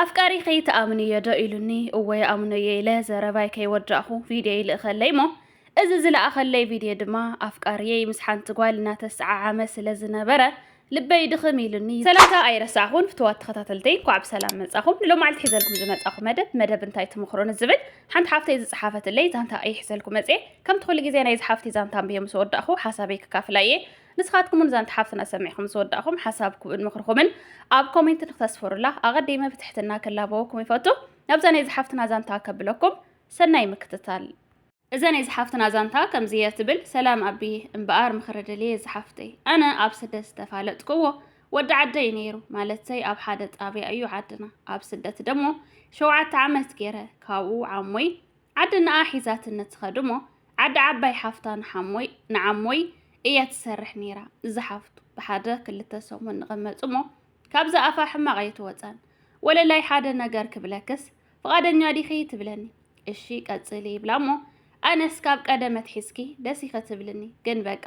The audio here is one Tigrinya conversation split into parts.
ኣፍቃሪኺ ትኣምንዮ ዶ ኢሉኒ እወ ይኣምኖዮ ኢለ ዘረባይ ከይወዳእኹ ቪድዮ ይልእኸለይ እሞ እዚ ዝለኣኸለይ ቪድዮ ድማ ኣፍቃርየይ ምስ ሓንቲ ጓል እናተሰዓዓመ ስለ ዝነበረ ልበይ ድኽም ኢሉኒ ሰላምታ ኣይረሳዕኹን ፍትዋት ተኸታተልተይ እንኳዕ ብሰላም መጻኹም ንሎማዓልቲ ሒዘልኩም ዝመጻኹ መደብ መደብ እንታይ ትምኽሮ ንዝብል ሓንቲ ሓፍተይ ዝጸሓፈትለይ ዛንታ እየ ሒዘልኩ መጽኤ ከምቲ ኩሉ ግዜ ናይዚ ሓፍቲ ዛንታ ኣንብየ ምስ ወዳእኹ ሓሳበይ ክካፍላ እየ ንስኻትኩም እውን ዛንታ ሓፍትና ሰሚዕኹም ምስ ወዳእኹም ሓሳብኩምን ምኽርኹምን ኣብ ኮሜንት ንክተስፍሩላ ኣቐዲመ ብትሕትና ክላበወኩም ይፈቱ። ናብዛ ናይ ዝሓፍትና ዛንታ ከብለኩም ሰናይ ምክትታል። እዛ ናይ ዝሓፍትና ዛንታ ከምዚ እያ ትብል፣ ሰላም ኣቢየ፣ እምበኣር ምኽሪ ደልየ ዝሓፍተይ። ኣነ ኣብ ስደት ዝተፋለጥክዎ ወዲ ዓደይ እዩ ነይሩ፣ ማለተይ ኣብ ሓደ ጣብያ እዩ ዓድና። ኣብ ስደት ደሞ ሸውዓተ ዓመት ገይረ፣ ካብኡ ዓሞይ ዓዲ ንኣ ሒዛትነ ትኸድሞ ዓዲ ዓባይ ሓፍታ ንሓሞይ ንዓሞይ እያ ትሰርሕ ነይራ እዛ ሓፍቱ ብሓደ ክልተ ሰሙን ንቐመጽሞ ካብዛ ኣፋ ሕማቕ ኣይትወጻን ወለላይ ሓደ ነገር ክብለክስ ፍቓደኛ ዲኺ ትብለኒ እሺ ቀጽሊ ይብላ እሞ ኣነስ ካብ ቀደመት ሒዝኪ ደስ ይኸትብልኒ ግን በቃ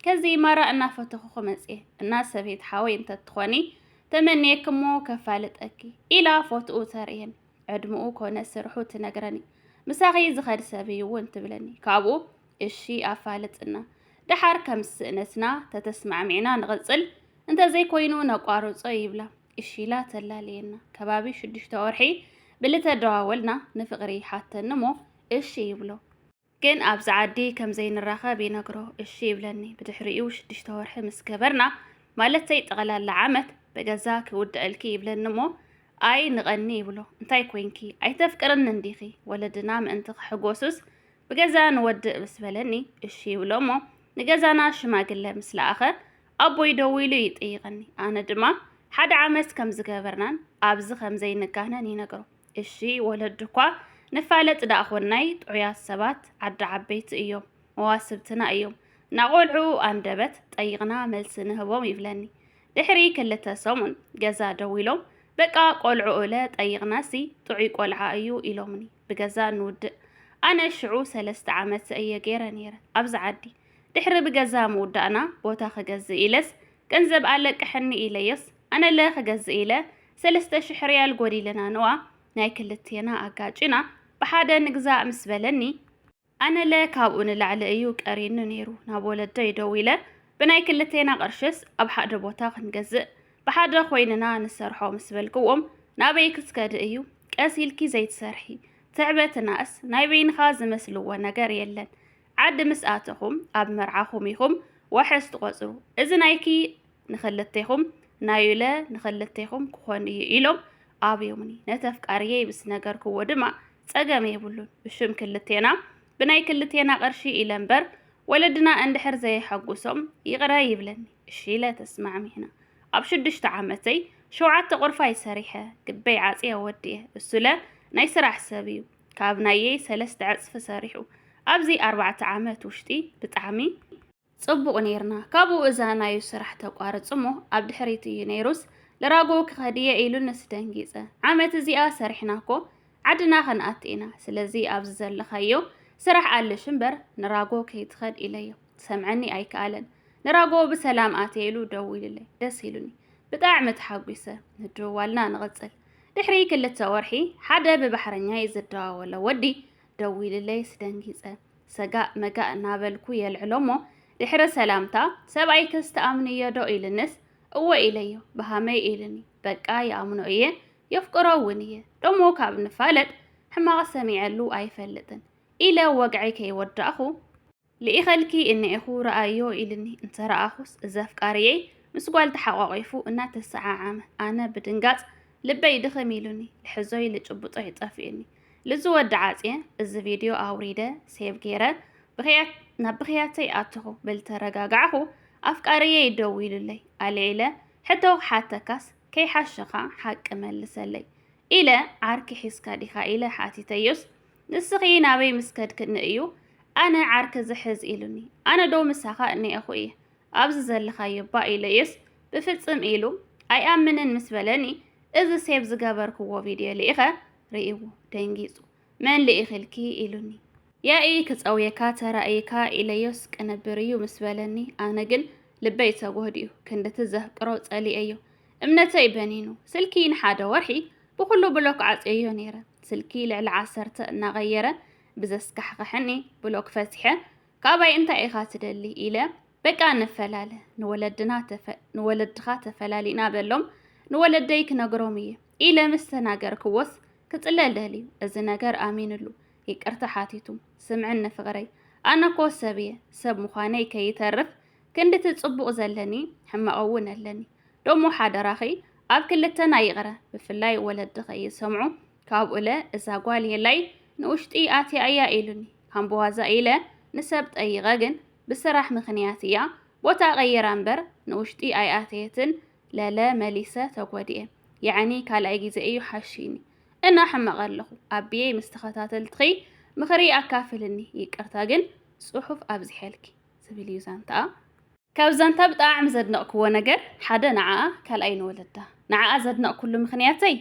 ከዚ ማራ እናፈተኹ ክመጽየ እና ሰበይት ሓወይ እንተትኾኒ ተመንየክሞ ከፋልጠኪ ኢላ ፎትኡ ተርእየን ዕድምኡ ኮነ ስርሑ ትነግረኒ ምሳኺ ዝኸድ ሰብ እዩ እውን ትብለኒ ካብኡ እሺ ኣፋልጥና ደሓር ከም ስእነትና ተተስማዕሚዕና ንቕፅል እንተዘይኮይኑ ነቋርፆ ይብላ እሺላ ተላለየና ከባቢ ሽዱሽተ ወርሒ ብልተደዋወልና ንፍቕሪ ሓተኒ እሞ እሺ ይብሎ ግን ኣብዚ ዓዲ ከም ዘይንራኸብ ይነግሮ፣ እሺ ይብለኒ። ብድሕሪኡ ሽዱሽተ ወርሒ ምስ ገበርና፣ ማለተይ ጠቕላላ ዓመት፣ በገዛ ክውድኣልኪ ይብለኒ እሞ፣ ኣይ ንቐኒ ይብሎ። እንታይ ኮይንኪ? ኣይተፍቅርንን ዲኺ? ወለድና ምእንቲ ክሕጎሱስ ብገዛ ንወድእ ምስ በለኒ፣ እሺ ይብሎ እሞ፣ ንገዛና ሽማግለ ምስ ለኣኸ፣ ኣቦይ ደዊሉ ይጥይቐኒ። ኣነ ድማ ሓደ ዓመት ከም ዝገበርናን ኣብዚ ከም ዘይንጋነን ይነግሮ። እሺ ወለድኳ ንፋለጥ ደኣ ኾናይ ጥዑያት ሰባት ዓዲ ዓበይቲ እዮም መዋስብትና እዮም ናቆልዑ ኣንደበት ጠይቕና መልሲ ንህቦም ይብለኒ ድሕሪ ክልተ ሰሙን ገዛ ደዊሎም በቃ ቆልዑ እለ ጠይቕናሲ ጥዑይ ቆልዓ እዩ ኢሎምኒ ብገዛ ንውድእ ኣነ ሽዑ ሰለስተ ዓመት እየ ገይረ ነይረ ኣብዚ ዓዲ ድሕሪ ብገዛ ምውዳእና ቦታ ክገዝእ ኢለስ ገንዘብ ኣለቅሐኒ ኢለዮስ ኣነለ ክገዝእ ኢለ ሰለስተ ሽሕ ርያል ጎዲልና ነዋ ናይ ክልቴና ኣጋጪና ብሓደ ንግዛእ ምስ በለኒ ኣነለ ካብኡ ንላዕሊ እዩ ቀሪኒ ነይሩ ናብ ወለደይ ደዊለ ብናይ ክልቴና ቅርሽስ ኣብ ሓደ ቦታ ክንገዝእ ብሓደ ኮይንና ንሰርሖ ምስ በልክዎም ናበይ ክትከዲ እዩ ቀስ ኢልኪ ዘይትሰርሒ ትዕበትናስ ናይ በይንኻ ዝመስልዎ ነገር የለን ዓዲ ምስ ኣተኹም ኣብ መርዓኹም ኢኹም ዋሕስ ትቆፅሩ እዚ ናይኪ ንኽልቴኹም ናዩለ ንኽልቴኹም ክኾን እዩ ኢሎም ኣብዮምኒ ነቲ ኣፍቃርየይ ምስ ነገርክዎ ድማ ጸገም የብሉን ብሽም ክልቴና ብናይ ክልቴና ቅርሺ ኢለ እምበር ወለድና እንድሕር ዘየሐጉሶም ይቕረ ይብለኒ እሺ ኢለ ተስማዕሚዕና ኣብ ሽዱሽተ ዓመተይ ሸውዓተ ቁርፋይ ሰሪሐ ግበይ ዓጽየ ወዲየ እሱለ ናይ ስራሕ ሰብ እዩ ካብ ናየይ ሰለስተ ዕጽፊ ሰሪሑ ኣብዚ ኣርባዕተ ዓመት ውሽጢ ብጣዕሚ ጽቡቕ ኔርና ካብኡ እዛ ናዩ ስራሕ ተቋርጽ እሞ ኣብ ድሕሪት እዩ ነይሩስ ልራጎ ክኸድ እየ ኢሉ ንስ ደንጊጸ ዓመት እዚኣ ሰሪሕና እኮ ዓድና ከንኣቲ ኢና ስለዚ ኣብዚ ዘለኻዮ ስራሕ ኣልሽ እምበር ንራጎ ከይትኸድ ኢለዮ ክሰምዐኒ ኣይከኣለን ንራጎ ብሰላም ኣትየ ኢሉ ደዊሉለይ ደስ ኢሉኒ ብጣዕሚ ተሓጒሰ ምድውዋልና ንቕጽል ድሕሪ ክልተ ወርሒ ሓደ ብባሕረኛ እዩ ዝደዋወሎ ወዲ ደዊሉለይ ስደንጊጸ ሰጋእ መጋእ እናበልኩ የልዕሎ'ሞ ድሕሪ ሰላምታ፣ ሰብኣይክስ ትኣምንዮ'ዶ? ኢሉንስ፣ እወ ኢለዮ። ብኸመይ? ኢሉኒ። በቃ ይኣምኖ እየ፣ የፍቅሮ'ውን እየ። ደሞ ካብ ንፋለጥ ሕማቕ ሰሚዐሉ ኣይፈልጥን። ኢለ ወግዐይ ከይወዳእኹ፣ ልኢኸልኪ እኒኤኹ ርኣይዮ ኢሉኒ። እንተረኣኹስ፣ እዚ ኣፍቃሪየይ ምስ ጓል ተሓቋቒፉ እናተሰዓዓመ። ኣነ ብድንጋጽ ልበይ ድኽም ኢሉኒ፣ ልሕዞይ ልጭብጦይ ጠፊኡኒ። ልዚ ወዲ ዓጽየ እዚ ቪድዮ ኣውሪደ ሴቭ ገይረ ብኽያት ናብ ብኽያተይ ኣትኹ ብልተረጋጋዕኹ ኣፍቃሪየይ ደዊሉለይ ኣልዒለ ሕቶ ክሓተካስ ከይሓሸኻ ሓቂ መልሰለይ ኢለ ዓርኪ ሒዝካ ዲኻ ኢለ ሓቲተዮስ ንስኺ ናበይ ምስ ከድክኒ እዩ ኣነ ዓርኪ ዝሕዝ ኢሉኒ ኣነ ዶ ምሳኻ እኒኤኹ እየ ኣብዚ ዘለኻዮ ባ ኢለዮስ ብፍጽም ኢሉ ኣይኣምንን ምስ በለኒ እዚ ሴብ ዝገበርክዎ ቪድዮ ልኢኸ ርእይዎ ደንጊጹ፣ መን ልኢኺልኪ? ኢሉኒ። ያኢ ክጸውየካ ተራእይካ ኢለዮስ ቅንብር እዩ ምስ በለኒ፣ ኣነ ግን ልበይ ተጎህዲኡ፣ ክንድቲ ዘፍቅሮ ጸሊኤዮ። እምነተይ በኒኑ። ስልኪ ንሓደ ወርሒ ብኹሉ ብሎክ ዓጽየዮ ነይረ። ስልኪ ልዕሊ ዓሰርተ እናቐየረ ብዘስካሕኸሐኒ ብሎክ ፈቲሐ፣ ካባይ እንታይ ኢኻ ትደሊ? ኢለ በቃ ንፈላለ፣ ንወለድኻ ተፈላሊና በሎም፣ ንወለደይ ክነግሮም እየ። ኢለ ምስ ተናገርክዎስ ክጽለል ደልዩ እዚ ነገር ኣሚንሉ ይቅርታ ሓቲቱ ስምዕኒ ፍቕረይ ኣነ እኮ ሰብ እየ ሰብ ምዃነይ ከይተርፍ ክንድቲ ጽቡቕ ዘለኒ ሕማቕ እውን ኣለኒ ደሞ ሓደራኺ ኣብ ክልተና ይቕረ ብፍላይ ወለዲ ከይሰምዑ ካብኡለ እዛ ጓል የላይ ንውሽጢ ኣትያ እያ ኢሉኒ ካምበዋዛ ኢለ ንሰብ ጠይቐ ግን ብስራሕ ምኽንያት እያ ቦታ ቀይራ እምበር ንውሽጢ ኣይኣተየትን ለለ መሊሰ ተጎዲኤ የዕኒ ካልኣይ ግዜ እዩ ሓሽይኒ እና ሕመቀ ኣለኹ ኣቢየይ ምስ ተኸታተልትኺ ምኽሪ ኣካፍልኒ ይቅርታ ግን ጽሑፍ ኣብዚሐልኪ ዝብል እዩ ዛንታኣ ካብ ዛንታ ብጣዕሚ ዘድነቕክዎ ነገር ሓደ ንዓኣ ካልኣይ ንወለዳ ንዓኣ ዘድነቕኩሉ ምኽንያተይ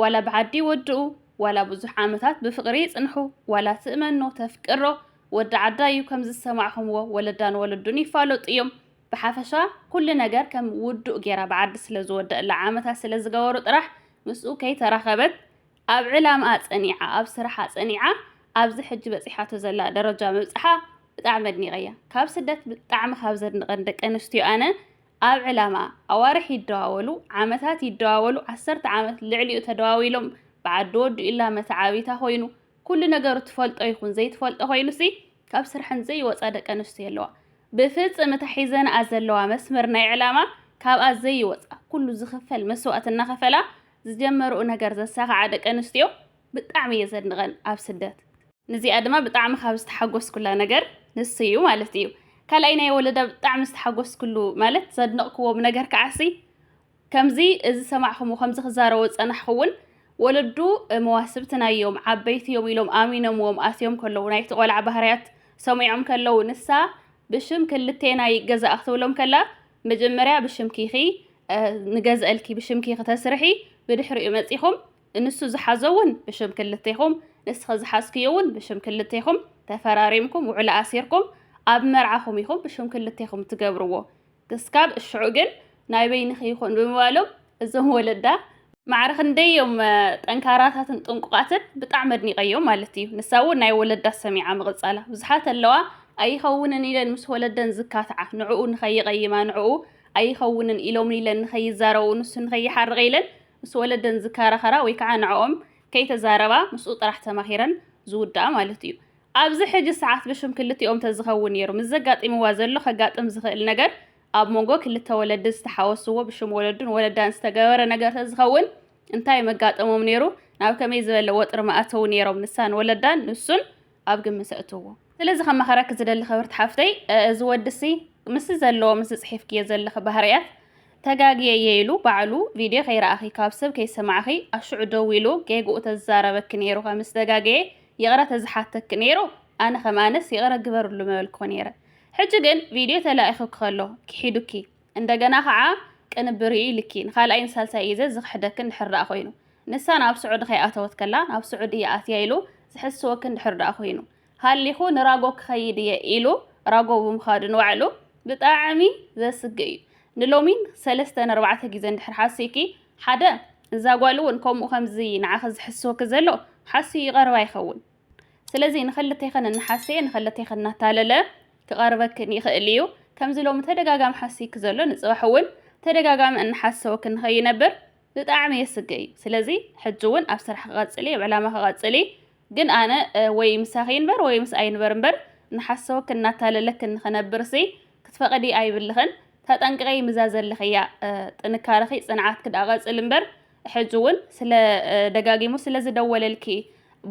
ዋላ ብዓዲ ይወድኡ ዋላ ብዙሕ ዓመታት ብፍቕሪ ይጽንሑ ዋላ ትእመኖ ተፍቅሮ ወዲ ዓዳ እዩ ከም ዝሰማዕኹምዎ ወለዳን ወለዱን ይፋለጡ እዮም ብሓፈሻ ኩሉ ነገር ከም ውዱእ ጌራ ብዓዲ ስለ ዝወደእላ ዓመታት ስለ ዝገበሩ ጥራሕ ምስኡ ከይተራኸበት ኣብ ዕላምኣ ጸኒዓ ኣብ ስራሓ ጸኒዓ ኣብዚ ሕጂ በጺሓቶ ዘላ ደረጃ ምብጻሓ ብጣዕሚ ኣድኒቐያ ካብ ስደት ብጣዕሚ ካብ ዘድንቐን ደቂ ኣንስትዮ ኣነ ኣብ ዕላምኣ ኣዋርሕ ይደዋወሉ ዓመታት ይደዋወሉ ዓሰርተ ዓመት ልዕሊኡ ተደዋዊሎም ብዓዲ ወዲኡላ መተዓቢታ ኮይኑ ኩሉ ነገሩ ትፈልጦ ይኹን ዘይትፈልጦ ኮይኑሲ ካብ ስርሐን ዘይወጻ ደቂ ኣንስትዮ ኣለዋ። ብፍጽም እታ ሒዘንኣ ዘለዋ መስመር ናይ ዕላማ ካብኣ ዘይወጻ ኩሉ ዝኽፈል መስዋእቲ እናኸፈላ ዝጀመርኡ ነገር ዘሳኽዓ ደቂ ኣንስትዮ ብጣዕሚ እየ ዘድንቐን ኣብ ስደት። ንዚኣ ድማ ብጣዕሚ ካብ ዝተሓጎስኩላ ነገር ንሱ እዩ ማለት እዩ። ካልኣይ ናይ ወለዳ ብጣዕሚ ዝተሓጎስኩሉ ማለት ዘድነቕክዎ ነገር ከዓሲ ከምዚ ዝሰማዕኹምዎ ከምዚ ክዛረቡ ዝጸናሕኹ እውን ወለዱ መዋስብትና እዮም ዓበይቲ እዮም ኢሎም ኣሚኖምዎም ኣስዮም ከለዉ ናይቲ ቆልዓ ባህርያት ሰሚዖም ከለዉ ንሳ ብሽም ክልቴናይ ገዛእ ክትብሎም ከላ መጀመርያ ብሽምኪ ኢኺ ንገዝአልኪ ብሽምኪ ክተስርሒ ብድሕሪኡ መጺኹም ንሱ ዝሓዞ እውን ብሽም ክልቴኹም ንስኺ ዝሓዝክዮ እውን ብሽም ክልቴኹም ተፈራሪምኩም ውዕሎ ኣሲርኩም ኣብ መርዓኹም ኢኹም ብሽም ክልቴኹም ትገብርዎ ክስካብ እሽዑ ግን ናይ በይንኺ ይኹን ብምባሎም እዞም ወለዳ ማዕረ ክንደይ እዮም ጠንካራታትን ጥንቁቓትን ብጣዕሚ ኣድኒቐዮም ማለት እዩ። ንሳ እውን ናይ ወለዳ ሰሚዓ ምቕጻላ ብዙሓት ኣለዋ ኣይኸውንን ኢለን ምስ ወለደን ዝካትዓ ንዕኡ ንኸይቐይማ ንዕኡ ኣይኸውንን ኢሎምን ኢለን ንኸይዛረቡ ንሱ ንኸይሓርቕ ኢለን ምስ ወለደን ዝከራኸራ ወይ ከዓ ንዕኦም ከይተዛረባ ምስኡ ጥራሕ ተማሂረን ዝውድኣ ማለት እዩ። ኣብዚ ሕጂ ሰዓት ብሽም ክልቲኦም ተዝኸውን ነይሩ ምስ ዘጋጢምዋ ዘሎ ከጋጥም ዝኽእል ነገር ኣብ መንጎ ክልተ ወለዲ ዝተሓወስዎ ብሽም ወለዱን ወለዳን ዝተገበረ ነገር ተዝኸውን እንታይ መጋጠሞም ነይሩ ናብ ከመይ ዝበለ ወጥሪ ምኣተዉ ነይሮም ንሳን ወለዳን ንሱን ኣብ ግምት ኣእትዎ። ስለዚ ከማኽረኪ ዝደሊ ክብርቲ ሓፍተይ እዚ ወዲሲ ምስዚ ዘለዎ ምስዚ ጽሒፍክዮ ዘለኺ ባህርያት ተጋግየ እየ ኢሉ ባዕሉ ቪድዮ ከይረኣኺ ካብ ሰብ ከይሰማዕኺ ኣሽዑ ደዊሉ ጌግኡ ተዝዛረበኪ ነይሩ ከምዝተጋገየ ይቕረ ተዝሓተኪ ነይሩ ኣነ ከም ኣነስ ይቕረ ግበርሉ ምበልኩኺ ነይረ ሕጂ ግን ቪድዮ ተላኢኹኪ ከሎ ኪሒዱኪ እንደገና ኸዓ ቅንብር እዩ ኢልኪ ንኻልኣይን ሳልሳይ እዩ ዘ ዝኽሕደኪ እንድሕር ደኣ ኮይኑ ንሳ ናብ ስዑዲ ከይኣተወት ከላ ናብ ስዑዲ እየ ኣትያ ኢሉ ዝሕስወኪ እንድሕር ደኣ ኮይኑ ሃሊኹ ንራጎ ክኸይድ እየ ኢሉ ራጎ ብምኻዱ ንባዕሉ ብጣዕሚ ዘስግእ እዩ ንሎሚን ሰለስተን ኣርባዕተ ግዜ እንድሕር ሓሲኪ ሓደ እዛ ጓል እውን ከምኡ ከምዚ ንዓኺ ዝሕስወኪ ዘሎ ሓስዩ ይቐርባ ይኸውን ስለዚ ንኸልቴኸን እናሓሰየ ንኸልቴኸን እናታለለ ክቐርበክን ይኽእል እዩ ከምዚ ሎሚ ተደጋጋሚ ሓስይኪ ዘሎ ንፅባሕ እውን ተደጋጋሚ እናሓሰወኪ ንኸይነብር ብጣዕሚ የስግእ እዩ ስለዚ ሕጂ እውን ኣብ ስራሕ ክቐፅሊ ኣብ ዕላማ ክቐፅሊ ግን ኣነ ወይ ምሳኺ ይንበር ወይ ምስኣ ይንበር እምበር እናሓሰወክን እናታለለክን ንኽነብርሲ ክትፈቕዲ ኣይብልኽን ተጠንቅቒ ምዛ ዘለኽያ ጥንካረኺ ፅንዓትኪ ድኣ ቀፅሊ እምበር ሕጂ እውን ስለ ደጋጊሙ ስለ ዝደወለልኪ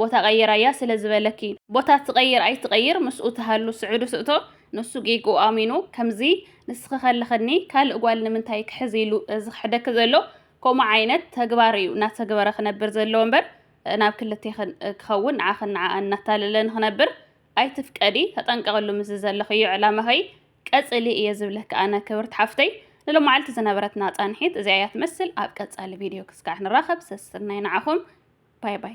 ቦታ ቀይራያ ስለ ዝበለኪ ቦታ ትቐይር ኣይትቐይር ምስኡ ትሃሉ ስዑዲ ትእቶ ንሱ ጌግኡ ኣሚኑ ከምዚ ንስኺ ከለኽኒ ካልእ ጓል ንምንታይ ክሕዝ ኢሉ ዝኽሕደኪ ዘሎ ከምኡ ዓይነት ተግባር እዩ እናተግበረ ክነብር ዘለዎ እምበር ናብ ክልተ ክኸውን ንዓኽን ንዓኣን እናታለለ ንኽነብር ኣይትፍቀዲ ተጠንቀቕሉ ምስዚ ዘለኽዮ ዕላማኸይ ቀጽሊ እየ ዝብለኪ ኣነ ክብርቲ ሓፍተይ ንሎማዓልቲ ዝነበረትና ጻንሒት እዚኣ እያ ትመስል ኣብ ቀጻሊ ቪድዮ ክስካዕ ንራኸብ ሰስናይ ንዓኹም ባይ ባይ